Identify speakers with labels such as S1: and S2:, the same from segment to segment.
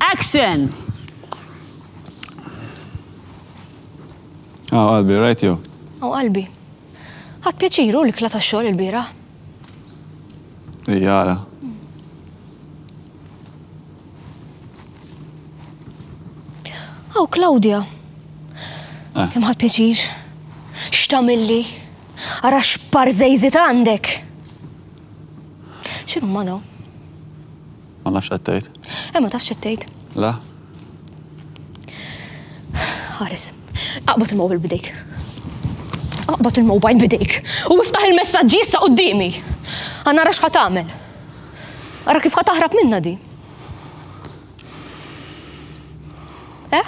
S1: Action!
S2: Aw qalbi, rajt jew? Aw qalbi.
S3: Ħadd pjaċiru l-ikla tax-xogħol il-bieraħ.
S2: Ijara.
S3: Aw Claudia. Eh. Kemm ħadd pjaċir. X'tamilli? Ara x'par żejżit għandek. X'inhu ma dawn? Ma
S2: nafx qed tgħid. Eh, ma tafx qed tgħid.
S3: La.
S2: Ħares.
S3: Aqbad il-mobile bidejk. Aqbad il-mobile bidejk. U iftaħ il-messaġġi issa qudiemi. Għanna rax ħat tagħmel. Ara kif ħat taħrab minna di. Eh?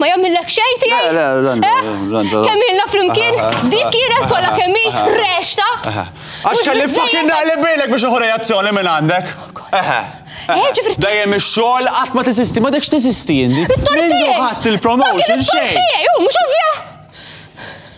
S3: Ma jammillek xejn tiegħi? Le, le, ranza.
S2: Kemm ilna
S3: flimkien, dik kienet kollha kemm hi rexta. Għax kelli
S2: fucking naqli bilek biex uħu reazzjoni minn għandek. Eħe. Dejjem ix-xogħol qatt ma tesisti, ma dekx tesisti indi. Mindu ħadd il-promotion xejn. Mhux ovvja.